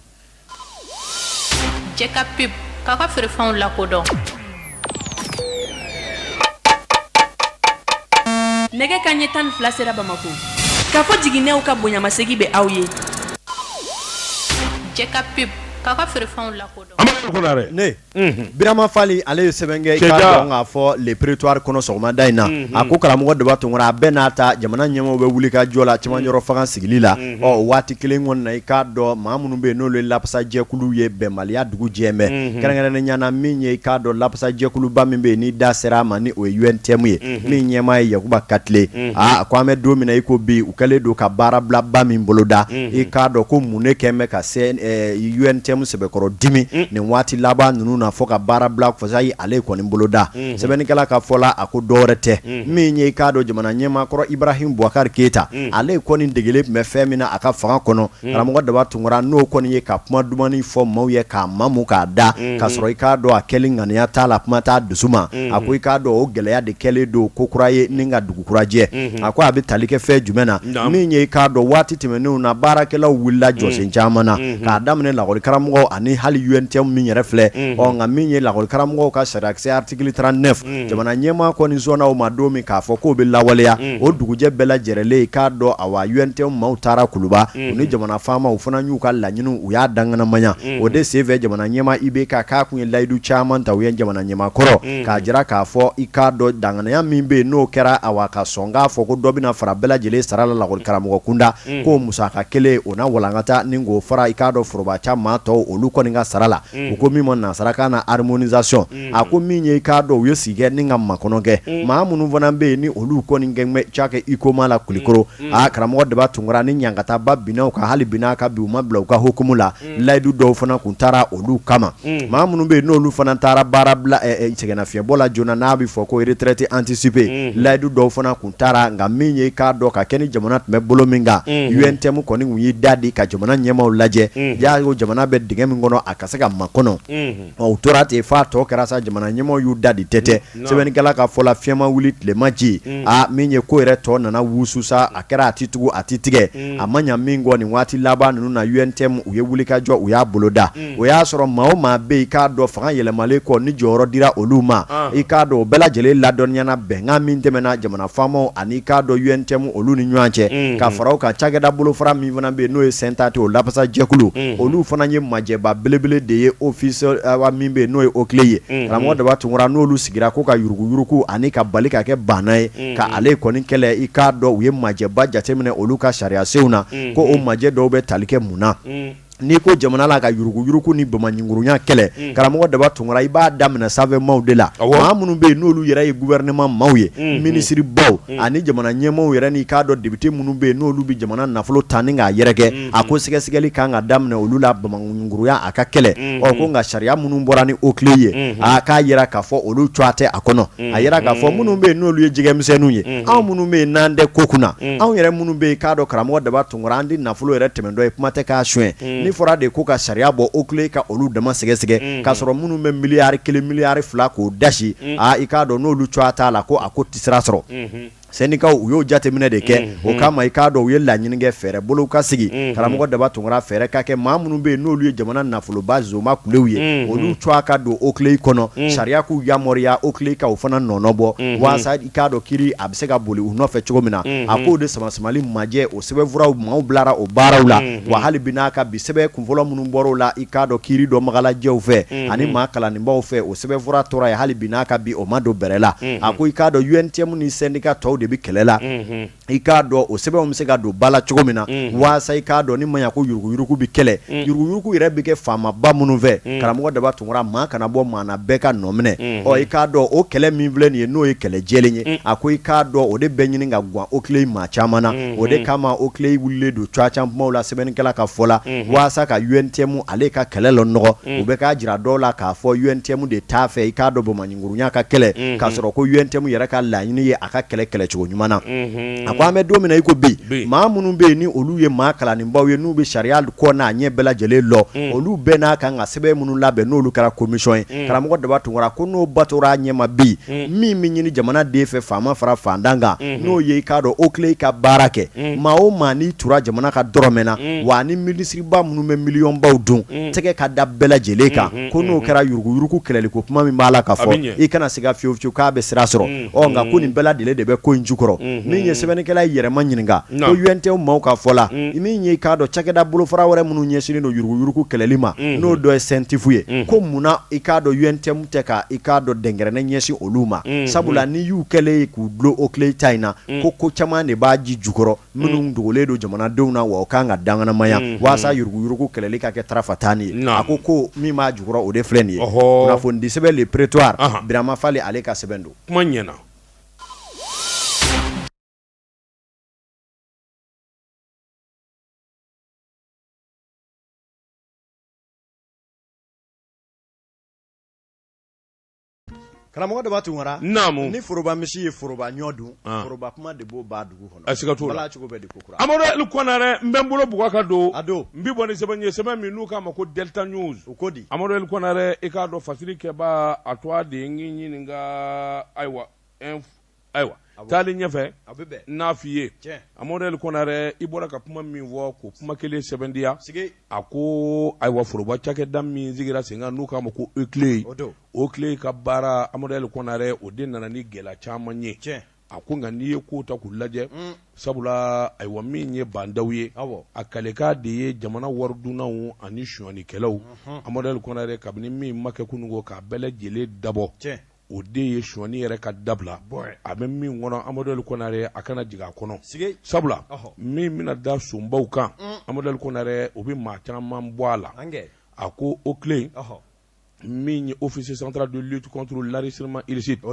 pub k'a ka feerefɛnw lakodɔn nɛgɛ kanɲɛ tan ni fila sera bamakɔ kafo jiginɛw ka bonyamasegin bɛ aw ye jɛka pub k'a ka feerefɛnw la birama fali ale ye sɛbɛn kɛ i k'a dɔn k'a fɔ le prétoire kɔnɔ sɔgɔmada in na a ko karamɔgɔ daba tunkara a bɛɛ n'a ta jamana ɲɛmɔgɔw bɛ wuli ka jɔ la cɛmancɛ yɔrɔ fanga sigili la waati kelen kɔni na i k'a dɔn mɔgɔ minnu bɛ yen n'olu ye lapasajɛkulu ye bɛnbaliya dugu jɛmɛ kɛrɛnkɛrɛnnenya na min ye i k'a dɔn lapasajɛkuluba min bɛ yen n'i da sera a ma ni o ye UNTM ye min ɲɛmaa ye yakuba katile a a ko an bɛ don min na i ko bi u kɛlen don ka baarabilaba min boloda i k'a dɔn ko mun ne kɛlen bɛ ka UNTM sɛbɛkɔrɔ dimi nin waati laban ninnu na fɔ ka baara bila fasa y' ale kɔni boloda sɛbɛnnikɛla ka fɔ la a ko dɔ wɛrɛ tɛ min ye i k'a dɔn jamana ɲɛmaa kɔrɔ ibrahim bubakari keyita ale kɔni degelen tun bɛ fɛn min na a ka fanga kɔnɔ karamɔgɔ daba tunkara n'o kɔni ye ka kuma dumanin fɔ maaw ye k'a mamu k'a da ka sɔrɔ i k'a dɔn a kɛ ŋaniya t'a la kuma t'a dusu ma a ko i k'a dɔn o gɛlɛya de kɛlen don ko kura ye ni ka dugu kura jɛ a ko a bɛ tali kɛ fɛn jumɛn na min ye k'a dɔn waati tɛmɛnenw na baarakɛlaw wulila jɔsen caman na k'a daminɛ lakɔli karamɔgɔw ani hali UNTM min yɛrɛ filɛ nka min ye lakɔli karamɔgɔw ka sariyakisɛ article trente-neuf jamana ɲɛmaa kɔni sɔnna o ma don min k'a fɔ k'o bɛ lawaleya o dugujɛ bɛɛ lajɛlen k'a dɔn awa UNTM maaw taara kuluba u ni jamana faamaw u fana y'u ka laɲini u y'a danganamaya o de senfɛ jamana ɲɛmaa IBK k'a tun ye layidu caman ta u ye jamana ɲɛmaa kɔrɔ k'a jira k'a fɔ i k'a dɔn danganaya min bɛ yen n'o kɛra awa ka sɔn k'a fɔ ko dɔ bɛna fara bɛɛ lajɛlen sara la lakɔli karamɔgɔ kunda k'o musaka kelen o na walankata ni k'o fara i k'a dɔn foroba ca maa tɔw olu kɔni ka sara la u ko min ma nansarakan na harmonisation a ko min ye i k'a dɔn u ye sigi kɛ ni ka makɔnɔ kɛ maa minnu fana bɛ yen ni olu kɔni tun bɛ cakɛ HUICOMA la kulukɔrɔ aa karamɔgɔ daba tunkara ni ɲankataba binna u kan hali binina ka bi u ma bila u ka hukumu la layidu dɔw fana tun taara olu kama maa minnu bɛ yen n'olu fana taara baara bila sɛgɛnnafiɲɛbɔ la joona n'a bɛ fɔ ko retraite anticipée layidu dɔw fana tun taara nka min ye k'a dɔn ka kɛ ni jamana tun bɛ bolo min kan UNTM kɔni tun y'i da di ka jamana ɲɛmaaw lajɛ y'a ye jamana bɛ dingɛ min kɔnɔ a ka se ka ma kɔnɔ ɔ u tora ten f'a tɔ kɛra sa jamana ɲɛmaaw y'u da di tɛ tɛ sɛbɛnnikɛla ka fɔ la fiɲɛma wuli tilema ji min ye ko yɛrɛ tɔ nana wusu sa a kɛra a tɛ tugu a tɛ tigɛ a ma ɲɛ min kɔ nin waati laban ninnu na UNTM u ye wuli ka jɔ u y'a boloda o y'a sɔrɔ maa o maa bɛ yen k'a dɔn fanga yɛlɛmalen kɔ ni jɔyɔrɔ dira olu ma i k'a dɔn o bɛɛ lajɛlen ladɔnniyana bɛnkan min tɛmɛna jamana faamaw ani k'a dɔn UNTM olu ni ɲɔgɔn cɛ ka fara u kan cakɛda bolo fara min fana bɛ yen n'o ye SYNTADE o lafasa jɛkulu olu fana ye majɛba belebele de ye office min bɛ yen n'o ye OCLEI ye karamɔgɔ daba tunkara n'olu sigira k'u ka yuruguyurugu ani ka bali ka kɛ banna ye ka ale kɔni kɛlɛ i k'a dɔn u ye majɛba jateminɛ olu ka sariyasenw na ko o majɛ dɔw bɛ tali kɛ mun na n'i ko jamana la ka yuruguyurugu ni bamaɲinkurunya kɛlɛ mm. karamɔgɔ daba tunkara i b'a daminɛ sanfɛ maaw de la maa minnu bɛ yen n'olu yɛrɛ ye gufɛrɛnaman maaw ye mm, mm. minisiribaw ani jamana ɲɛmaaw yɛrɛ n'i k'a dɔn depite minnu bɛ yen n'olu bɛ jamana nafolo ta ni k'a yɛrɛkɛ a ko sɛgɛsɛgɛli kan ka daminɛ olu la bamaɲinkurunya a ka kɛlɛ ɔ ko nka sariya minnu bɔra ni OCLEI ye a k'a jira k'a fɔ olu cogoya tɛ a kɔnɔ a jira k'a fɔ minnu bɛ yen n'olu ye jɛgɛmisɛnninw ye anw minnu bɛ yen n'an tɛ ko kunna anw yɛrɛ minnu bɛ yen k'a dɔn karamɔgɔ daba an di nafolo yɛrɛ tɛmɛtɔ ye kuma tɛ k'a son ni fɔra de ko ka sariya bɔ OCLEI ka olu dama sɛgɛsɛgɛ k'a sɔrɔ minnu bɛ miliyari kelen miliyari fila k'o dasi i k'a dɔn n'olu cogoya t'a la ko a ko tɛ sira sɔrɔ sɛndikaw u y'o jateminɛ de kɛ o kama i k'a dɔn u ye laɲini kɛ fɛɛrɛ bolo ka sigi karamɔgɔ Daba Tunkara fɛɛrɛ ka kɛ maa minnu bɛ yen n'olu ye jamana nafoloba zma kulew ye olu cogoya ka don OCLEI kɔnɔ sariya k'u yamaruya OCLEI ka o fana nɔnɔ bɔ walasa k'a dɔn kiri a bɛ se ka boli u nɔfɛ cogo min na a k'o de sama samali majɛ o sɛbɛnfuraw maaw bilara o baaraw la wa hali bi n'a ka bi sɛbɛn kunfɔlɔ minnu bɔr'o la i k'a dɔn kiri dɔ magalajɛw fɛ ani maa kalanlenbaw fɛ o sɛbɛnfura tora yen hali bi n'a ka bi o ma don bɛrɛ la a ko i k'a dɔn UNTM ni sɛndika tɔw de bɛ kɛlɛ la i k'a dɔn o sɛbɛnw bɛ se ka don ba la cogo min na waasa i k'a dɔn ni ma ko yuruguyurugu bɛ kɛlɛ yuruguyurugu yɛrɛ bɛ kɛ faamaba minnu fɛ karamɔgɔ Daba Tunkara maa kana bɔ maa bɛɛ ka nɔ minɛ ɔ i k'a dɔn o kɛlɛ min filɛ nin ye n'o ye kɛlɛ jɛ ye a ko i k'a dɔn o de bɛ ɲini ka gan OCLEI maa caman na o de kama OCLEI wililen don cogoya caman la sɛbɛnnikɛla ka fɔ la waasa ka UNTM ale ka kɛlɛ lanɔgɔ u bɛ k'a jira dɔw la k'a fɔ UNTM de t'a fɛ i k'a dɔn bɔ gurunya ka kɛlɛ k'a sɔrɔ ko UNTM yɛrɛ ka laɲini ye a ka kɛlɛ kɛlɛcogo ɲuman na a ko an bɛ don min na i ko bi maa minnu bɛ yen ni olu ye maa kalanlenbaw ye n'u bɛ sariya kɔ n'a ɲɛ bɛɛ lajɛlen lɔ olu bɛɛ n'a kan ka sɛbɛn minnu labɛn n'olu kɛra komisɔn ye karamɔgɔ Daba Tunkara ko n'o batora a ɲɛma bi min bɛ ɲini jamanaden fɛ faama fara fantan kan n'o ye i k'a dɔn OCLEI ka baara kɛ maa o maa n'i tora jamana ka dɔrɔmɛ na wa ni minisiriba minnu bɛ miliyɔnbaw dun tɛgɛ ka da bɛɛ lajɛlen kan ko n'o kɛra yuruguyurugu kɛlɛli ko kuma min b'a la ka fɔ i kana se ka fiyewu fiyewu k'a bɛ sira sɔrɔ ɔ nka ko nin bɛɛ lajɛlen de bɛ ko in jukɔrɔ min ye sɛbɛnnikɛla y'i yɛrɛma ɲininka ko UNTM maaw ka fɔ la min ye i k'a dɔn cakɛda bolofara wɛrɛ minnu ɲɛsinnen don yuruguyurugu kɛlɛli ma n'o dɔ ye CENTIF ye ko munna i k'a dɔn UNTM tɛ ka i k'a dɔn dɛnkɛrɛnɛ ɲɛsin olu ma sabula n'i y'u kɛlen ye k'u dulon OCLEI ta in na ko ko caman de b'a ji jukɔrɔ minnu dogolen don jamanadenw na wa o kan ka danganamaya walasa yuruguyurugu kɛlɛli ka kɛ tarafa tan ye a ko ko min b'a jukɔrɔ o de filɛ nin ye kunnafonidisɛbɛn Le Prétoire Birama Fall ale ka sɛbɛn don kuma ɲɛna Karamɔgɔ Daba Tunkara naamu ni foroba misi ye foroba ɲɔ dun foroba kuma de b'o ban dugu kɔnɔ a siga t'o la cogo bɛ di kokura Amadu El Konarɛ n bɛ n bolo bugɔ ka don a don n bɛ bɔ ni sɛbɛn ye sɛbɛn min n'u k'a ma ko Delta News u ko di Amadu El Konarɛ i k'a dɔn fasiri kɛba a to de n k'i ɲininka ayiwa ayiwa taalen ɲɛfɛ n'a f'i ye amadu el konare i bɔra ka kuma min fɔ k'o kuma kelen sɛbɛntiya a ko ayiwa foroba cakɛda min sigira sen kan n'u k'a ma ko oclei oclei ka baara amadu el konare o de nana ni gɛlɛya caman ye a ko nka n'i ye kow ta k'u lajɛ sabula ayiwa min ye ba ndaw ye a kalikan de ye jamana waridunnaw ani sonyɛnikɛlaw amadu el konare kabini min ma kɛ kunun ko k'a bɛɛ lajɛlen dabɔ o de ye sonyɛni yɛrɛ ka dabila a bɛ min kɔnɔ amadu el konare a kana jigin a kɔnɔ sabula min bɛna da sonbaw kan amadu el konare o bɛ maa caman bɔ a la a ko oclei min ye office central de lutte contre l'enrichissement illicite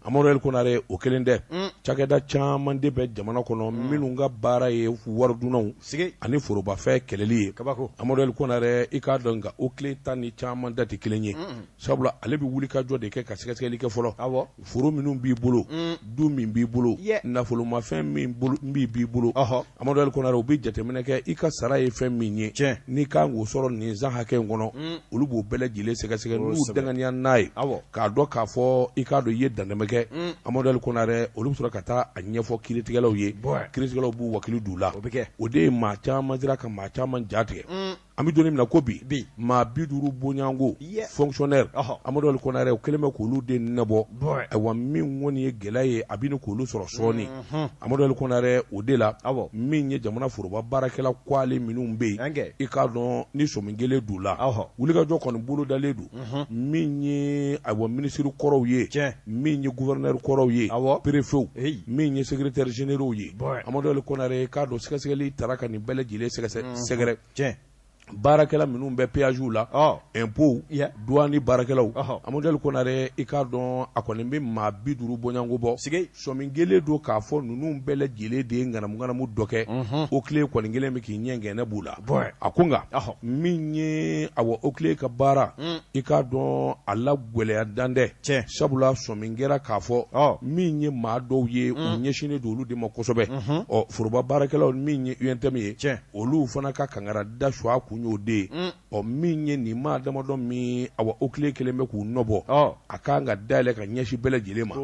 amadu el konare o kelen tɛ cakɛda caman de bɛ jamana kɔnɔ minnu ka baara ye waridunnaw ani forobafɛn kɛlɛli ye kabako amadu el konare i k'a dɔn nka oclei ta ni caman ta tɛ kelen ye Sabula ale bɛ wuli ka jɔ de kɛ ka sɛgɛsɛgɛli kɛ fɔlɔ awɔ foro minnu b'i bolo uun du min b'i bolo yɛ nafolomafɛn min bolo min b'i bolo ɔhɔ Amadu El Konare o bɛ jateminɛ kɛ i ka sara ye fɛn min ye tiɲɛ n'i ka kan k'o sɔrɔ nin san hakɛ in kɔnɔ uun olu b'o bɛɛ lajɛlen sɛgɛsɛgɛ n'u kosɛbɛ danganiya n'a ye awɔ k'a dɔn k'a fɔ i k'a dɔn i ye dantɛmɛ kɛ uun Amadu El Konare olu bɛ sɔrɔ ka taa a ɲɛfɔ kiiritigɛlaw ye bon kiiritigɛlaw b'u wakili d'u la o bɛ kɛ o de ye maa caman siran ka maa caman ja tigɛ uun an bɛ don min na ko bi maa bi duuru bɔɲɔgɔnko fonctionnaire amadu el konare o kɛlen bɛ k'olu de nɔbɔ ayiwa min kɔni ye gɛlɛya ye a bɛ ɲini k'olu sɔrɔ sɔɔni amadu el konare o de la aw min ye jamana foroba baarakɛla kuale minnu bɛ yen i k'a dɔn ni sɔmi kɛlen d'u la wulikajɔ kɔni bolodalen don min ye ayiwa minisiri kɔrɔw ye min ye gouverneur kɔrɔw ye a préfetw min ye secrétaire généralw ye amadu el konare i k'a dɔn sɛgɛsɛgɛli taara ka nin bɛɛ lajɛlen sɛgɛrɛ baarakɛla minnu bɛ péagew la impôt duwani baarakɛlaw amadu el konare i k'a dɔn a kɔni bɛ maa bi duuru bɔɲɔgɔnko bɔ sɔmi kɛlen don k'a fɔ ninnu bɛɛ lajɛlen de ye ŋanamuŋanamu dɔ kɛ oclei kɔni kɛlen bɛ k'i ɲɛkɛnɛ b'u la a ko nka min ye awa oclei ka baara mm. i k'a dɔn a la gwɛlɛya dan tɛ sabula sɔmi kɛra k'a fɔ min ye maa dɔw ye u mm. ɲɛsinnen don olu de ma kosɛbɛ mm-hmm. ɔ foroba baarakɛlaw min ye untm ye olu fana ka kangari da sun a kun y'o de ye mm. ɔ min ye nin maa damadɔ min awa oclei kɛlen bɛ k'u nɔbɔ a ka kan ka dayɛlɛ ka ɲɛsin bɛɛ lajɛlen ma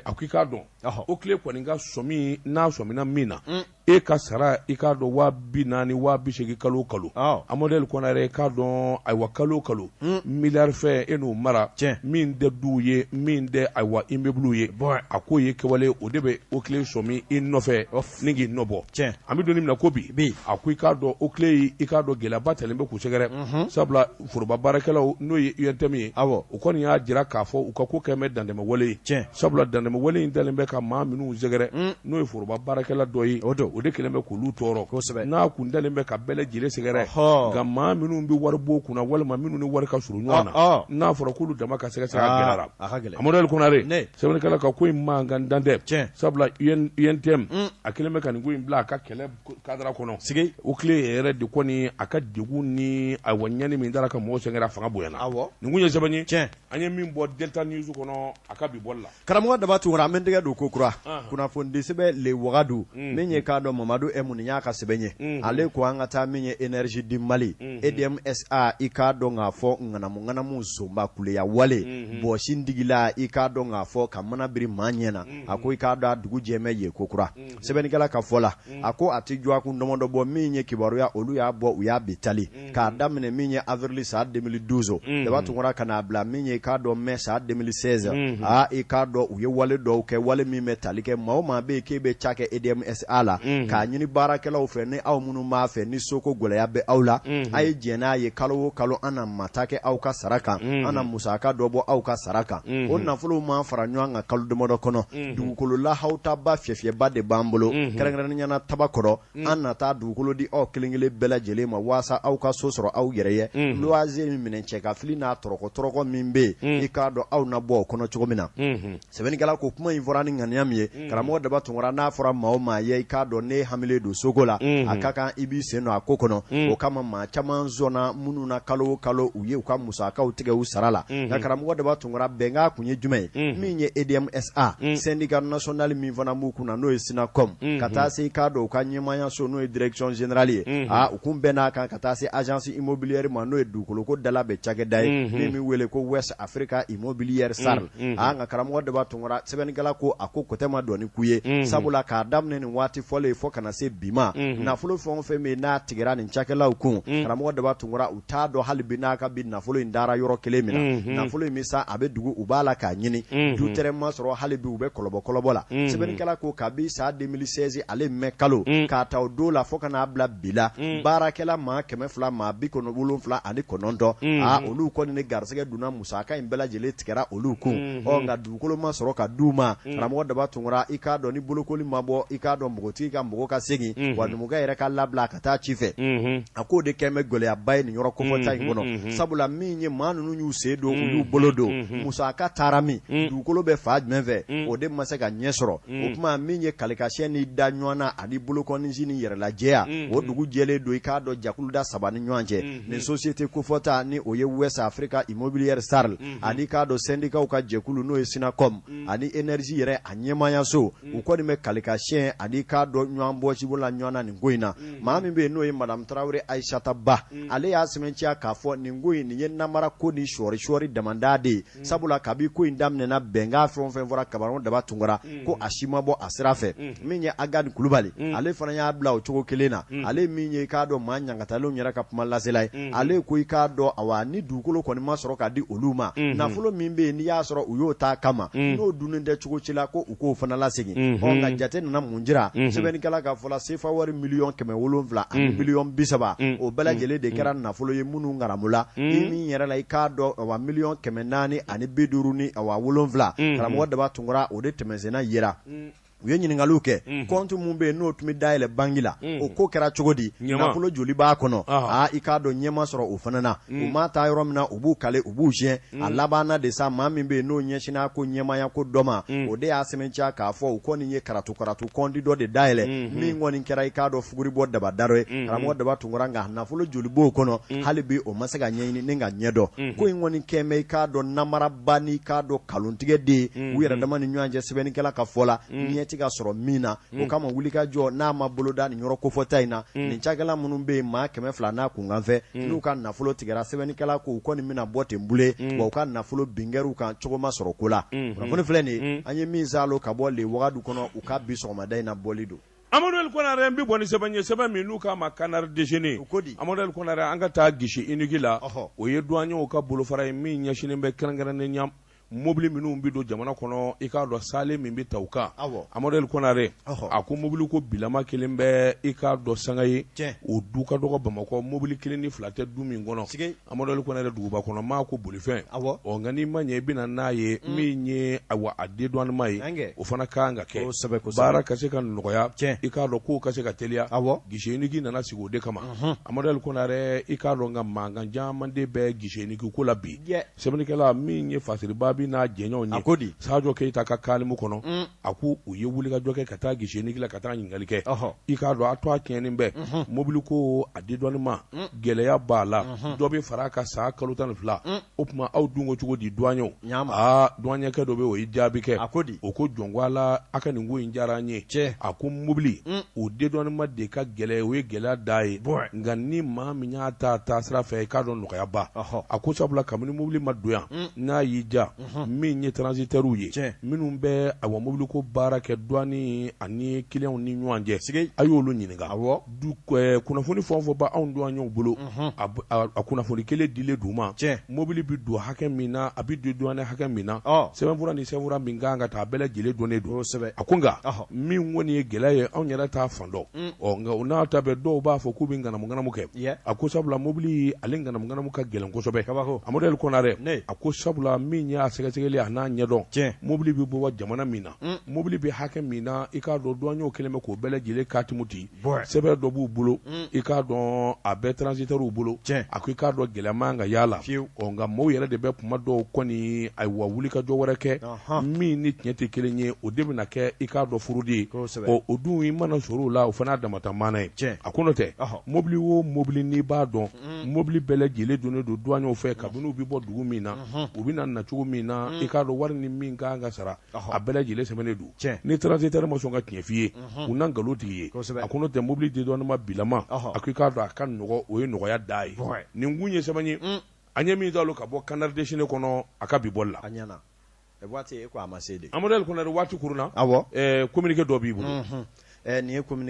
a ko i k'a dɔn oclei kɔni ka sɔmi n'a sɔmina min na e ka sara i k'a dɔn waa bi naani waa bi segin kalo kalo amadu el konare i k'a dɔn ayiwa kalo kalo miliyari fɛn e n'o mara cɛ min tɛ duw ye min tɛ ayiwa immeuble ye a k'o ye kɛwale o de bɛ oclei sɔmi i nɔfɛ ni k'i nɔbɔ tiɲɛ an bɛ don min na ko bi bi a ko i k'a dɔn OCLEI i k'a dɔn gɛlɛyaba dalen bɛ k'u sɛgɛrɛ sabula foroba baarakɛlaw n'o ye UNTM ye awɔ u kɔni y'a jira k'a fɔ u ka ko kɛlen bɛ dantɛmɛ wale ye tiɲɛ sabula dantɛmɛ wale in dalen bɛ ka maa minnu sɛgɛrɛ n'o ye foroba baarakɛla dɔ ye o don o de kɛlen bɛ k'olu tɔɔrɔ kosɛbɛ n'a kun dalen bɛ ka bɛɛ lajɛlen sɛgɛrɛ nka maa minnu bɛ waribonw kunna walima minnu ni wari ka surun ɲɔgɔn na n'a fɔra k'olu dama ka sɛgɛsɛgɛ a gɛlɛyara a ka gɛlɛn Amadu Ali Konare ne sɛbɛnnikɛla ka ko in mankan dan tɛ sabula UNTM mm. a kɛlen bɛ ka nin ko in bila a ka kɛlɛ kadara kɔnɔ sigi OCLEI yɛrɛ de kɔni a ka degun ni awa ɲani min dara ka mɔgɔw sɛgɛrɛ a fanga bonyana awɔ nin kun ye sɛbɛn ye tiɲɛ an ye min bɔ Delta News kɔnɔ a ka bi bɔli la karamɔgɔ daba tunkara an bɛ tɛgɛ don kokura kunnafonidi sɛbɛn le wagadu mm. min ye i k'a dɔn Mamadu Ɛmu nin y'a ka sɛbɛn ye mm. ale ko an ka taa min ye énergie du Mali EDMSA i k'a dɔn k'a fɔ ŋanamuŋanamu sonba kuya wale mɔgɔ sin digila i k'a dɔn k'a fɔ ka mana biri maa ɲɛ na a ko i k'a dɔn a dugu jɛmɛ ye kokura sɛbɛnnikɛla ka fɔ la a ko a tɛ jɔ a kun dɔmɔdɔ bɔ min ye kibaruya olu y'a bɔ u y'a bi tali k'a daminɛ min ye avril san deux mille douze daba tunkara ka n'a bila min ye i k'a dɔn mai san deux mille seize i k'a dɔn u ye wale dɔw kɛ wale min bɛ tali kɛ maa o maa bɛ k'e bɛ cakɛ EDMSA la k'a ɲini baarakɛlaw fɛ ni aw minnu b'a fɛ ni soko gɛlɛya bɛ aw la a ye diɲɛ n'a ye kalo o kalo an na mata kɛ aw ka sara kan an na musaka dɔ bɔ aw ka sara kan o nafolo ma fara ɲɔgɔn kan kalo dɔmɔdɔ kɔnɔ dugukolo la aw ta ba fiyɛfiyɛba de b'an bolo kɛrɛnkɛrɛnnenya na tabakɔrɔ an na taa dugukolo di aw kelen- kelen bɛɛ lajɛlen ma walasasa aw ka so sɔrɔ aw yɛrɛ ye luwanze minɛ cɛ ka fili n'a tɔrɔkɔ tɔrɔkɔ min bɛ yen i k'a dɔn aw na bɔ o kɔnɔ cogo min na sɛbɛnnikɛla ko kuma in fɔra ni ŋaniya min ye mm. karamɔgɔ daba tunkara n'a fɔra maa o maa ye i k'a dɔn n'e hamilen don soko la mm-hmm. a ka kan i b'i sen don a ko kɔnɔ mm. o kama maa caman sɔnna minnu na kalo o kalo u ye u ka musakaw tigɛ u sara la mm-hmm. nka karamɔgɔ daba tunkara bɛnkan kun ye jumɛn ye mm-hmm. min ye edmsa syndicat national min fana b'u kunna n'o ye synacome ka taa se i k'a dɔn u ka ɲɛmaayaso n'o ye direction générale ye a u kun bɛnn'a kan ka taa se agence immobilière ma n'o ye dugukoloko dalabɛn cakɛda ye min bɛ wele ko west africa immobilière sarl nka karamɔgɔ daba tunkara sɛbɛnnikɛla ko a ko kun tɛ ma dɔn ni ku ye sabula k'a daminɛ nin waati fɔlen ye fo ka na se bi ma nafolo fɛn o fɛn min n'a tigɛ nin cakɛlaw kun karamɔgɔ daba tunkara u t'a dɔn hali bi n'a ka bi nafolo in dara yɔrɔ kelen min na nafolo in bɛ san a bɛ dugu u b'a la k'a ɲini du tɛ ma sɔrɔ hali bi u bɛ kɔlɔbɔ kɔlɔbɔ la sɛbɛnnikɛla ko kabi san deux mille seize ale mai kalo k'a ta o don la fo ka n'a bila bi la baarakɛla maa kɛmɛ fila maa bi kɔnɔ wolonwula ani kɔnɔntɔn olu kɔni ni garisɛgɛ donna musaka in bɛɛ lajɛlen tigɛra olu kun Unhun. ɔ nka dugukolo ma sɔrɔ ka d'u ma Mm. karamɔgɔ daba tunkara i k'a dɔn ni bolokoli ma bɔ i k'a dɔn mɔgɔtigi ka mɔgɔ ka segin Unhun. wa numukɛ yɛrɛ ka labila a ka taa ci fɛ Unhun. a k'o de kɛn bɛ gɛlɛyaba ye nin yɔrɔ kofɔta in Unhun, kɔnɔ unhun. sabula min ye maa ninnu y'u sen don u Unhun, y'u bolo don unhun. musaka taara min Mm. dugukolo bɛ fan jumɛn fɛ Mm. o de ma se ka ɲɛ sɔrɔ Mm. o tuma min ye kalikasiyɛn ni da ɲɔgɔn na ani bolokɔninsi ni yɛrɛlajɛya Mm. o dugu jɛlen don i k'a dɔn jakuluda saba ni ɲɔgɔn cɛ Mm. ni société kofɔta ni o ye West Africa Immobilière SARL ani i k'a dɔn sendikaw ka jɛkulu n'o ye SYNACOME ani énergie yɛrɛ a ɲɛmaayaso u kɔni bɛ kalikasiyɛn ani i k'a dɔn ɲɔgɔn bɔsibo la ɲɔgɔn na nin ko in na maa min bɛ yen n'o ye madame tarawele ayisata ba ale y'a sɛmɛntiya k'a fɔ nin ko in nin ye namara ko ni sɔɔri sɔɔri damada de ye sabula kabi ko in daminɛna bɛnkan fɛn o fɛn fɔra karamɔgɔ daba tunkara ko a si ma bɔ a sira fɛ min ye Agani Kulubali ale fana y'a bila o cogo kelen na ale min ye i k'a dɔn maa ɲangatalenw yɛrɛ ka kuma lasela ye ale ko i k'a dɔn awa ni dugukolo kɔni ma sɔrɔ ka di olu ma nafolo min bɛ yen n'i y'a sɔrɔ u y'o t'a kama n'o dunnen tɛ cogo si la ko k'o fana lasegin unhun ɔ nka jate nana mun jira Unhun. sɛbɛnnikɛla ka fɔ la sefa wari miliyɔn kɛmɛ wolonwula ani Unhun. miliyɔn bi saba Unhun. o bɛɛ lajɛlen de kɛra nafolo ye minnu ngaramula Unhun. i min yɛrɛ la i k'a dɔn awa miliyɔn kɛmɛ naani ani bi duuru ni awa wolonwula Unhun. karamɔgɔ daba tunkara o de tɛmɛnsenna yera u ye ɲininkaliw kɛ Unhun. kɔnti min bɛ yen n'o tun bɛ dayɛlɛ banki la Unhun. o ko kɛra cogo di Ɲɛma. nafolo joli b'a kɔnɔ Ɔhɔ. aa i k'a dɔn ɲɛ ma sɔrɔ o fana na u ma taa yɔrɔ min na u b'u kale u b'u siyɛn Mm. a labanna de sa maa min bɛ yen n'o ɲɛsinn'a ko ɲɛmaaya ko dɔ ma mm. o de y'a sɛmɛntiya k'a fɔ u kɔni ye karatu karatu kɔnti dɔ de dayɛlɛ mm-hmm. min kɔni kɛra i k'a dɔn fuguri bɔ daba daro ye mm-hmm. karamɔgɔ daba tunkara nka nafolo joli b'o kɔnɔ mm. hali bi o ma se ka ɲɛɲini ni ka ɲɛ dɔn mm-hmm. ko in kɔni kɛn bɛ i k'a dɔn namaraba n'i k'a dɔn kalontigɛ de ye u yɛrɛ dama ni ɲɔgɔn cɛ sɛbɛnnikɛla ka fɔ la ɲɛ tɛ ka sɔrɔ min na o kama wulikajɔ n'a ma boloda nin yɔrɔ kofɔta in na nin cakɛla minnu bɛ yen maa kɛmɛ fila n'a kunkanfɛ n'u ka nafolo tigɛra sɛbɛnnikɛla ko u kɔni bɛna bɔ ten boloe wa u ka nafolo bin kɛr'u kan cogo ma sɔrɔ ko la kunnafoni filɛ nin an ye min saalo ka bɔ le wagadu kɔnɔ u ka bi sɔgɔmada in na bɔli don amadu El konare bɛ bɔ ni sɛbɛn ye sɛbɛn min n'u k'a ma Canard Déchaîné amadu El konare an ka taa guichet unique la o ye douaniers ka bolofara ye min ɲɛsinnen bɛ kɛrɛnkɛrɛnnenya mobili minnu bɛ don jamana kɔnɔ i k'a dɔn saalen min bɛ ta u kan amadu El konare a ko mobili ko bilama kɛlen bɛ i k'a dɔn sanga ye o du ka dɔgɔ bamakɔ mobili kelen ni fila tɛ du min kɔnɔ amadu El konare duguba kɔnɔ maa ko bolifɛn nka n'i ma ɲɛ i bɛ na n'a ye min ye awa a dédouanement ye o fana kan ka kɛ baara ka se ka nɔgɔya i k'a dɔn kow ka se ka teliya awa guichet unique nana sigi o de kama amadu El konare i k'a dɔn nka mankan caman de bɛ guichet unique ko la bi Sɛbɛnnikɛla min ye Fasiriba Jabi n'a jɛɲɔgɔnw ye, a ko di, Sajo Keyita ka kalimu kɔnɔ, un, a ko u ye wulikajɔ kɛ ka taa Guichet unique la ka taa ɲininkali kɛ, ɔhɔ, i k'a dɔn a tɔgɔ tiɲɛnen bɛ, unhun, mobiliko a dédouanement, un, gɛlɛya b'a la, unhun, dɔ bɛ far'a kan san kalo tan ni fila, un, o tuma aw dun ko cogo di duwanɲɛw, ɲaa ma, aa duwanɲɛkɛ dɔ bɛ yen o ye jaabi kɛ, a ko di, o ko jɔn ko Ala a ka nin ko in diyara an ye, cɛ, a ko mobili, un, o dédouanement de ka gɛlɛn o ye gɛlɛya dan ye, bon, nka ni maa min y'a ta a taasira fɛ i k'a dɔn nɔgɔyaba a ko sabula kabini mobili ma don yan n'a y'i ja min ye transitaires ye minnu bɛ awa mobili ko baara kɛ douane ani clients ni ɲɔgɔn cɛ a y'olu ɲininka kunnafoni fɛn o fɛn b'anw duwanɲɛw bolo a kunnafoni kelen dilen d'u ma mobili bɛ don hakɛ min na a bɛ dédouané hakɛ min na sɛbɛnfura ni sɛbɛn min kan ka taa a bɛɛ lajɛlen dɔnnen don a ko nka min kɔni ye gɛlɛya ye anw yɛrɛ t'a fan dɔn nka o n'a ta bɛɛ dɔw b'a fɔ k'u bɛ ŋanamu kɛ a ko sabula mobili ale ŋanamu ka gɛlɛn kosɛbɛ Amadu Konare a ko sabula min y'a sɛgɛsɛgɛli an'a ɲɛdɔn cɛ mobili bɛ bɔ jamana min na mobili bɛ hakɛ min na i k'a dɔn duwanɲɛw kɛlen bɛ k'o bɛɛ lajɛlen katimu di sɛbɛn dɔ b'u bolo i k'a dɔn a bɛ transitaires bolo cɛ a ko i k'a dɔn gɛlɛya man ka y'a la nka maaw yɛrɛ de bɛ tuma dɔw kɔni awa wulikajɔ wɛrɛ kɛ min ni tiɲɛ tɛ kelen ye o de bɛna kɛ i k'a dɔn fraude ye ɔ o dun i mana sɔrɔ o la o fana damata mana ye cɛ a ko n'o tɛ mobili o mobili n'i b'a dɔn mobili bɛɛ lajɛlen dɔnnen don duwanɲɛw fɛ kabini u bɛ bɔ dugu min na u bɛ na nacogo min na i k'a dɔn wari ni min kan ka sara a bɛɛ lajɛlen sɛbɛnnen don cɛ ni transitaire ma sɔn ka tiɲɛ f'i ye u na nkalontigi ye a ko n'o tɛ mobili dédouanement bilama a ko i k'a dɔn a ka nɔgɔ o ye nɔgɔya dan ye nin tun ye sɛbɛn ye An ye min kalan ka bɔ Canard déchaîné kɔnɔ a ka bi bɔ la a waati a ma se Amadu Konare waati kurunna communiqué dɔ b'i bolo nin ye kɔmi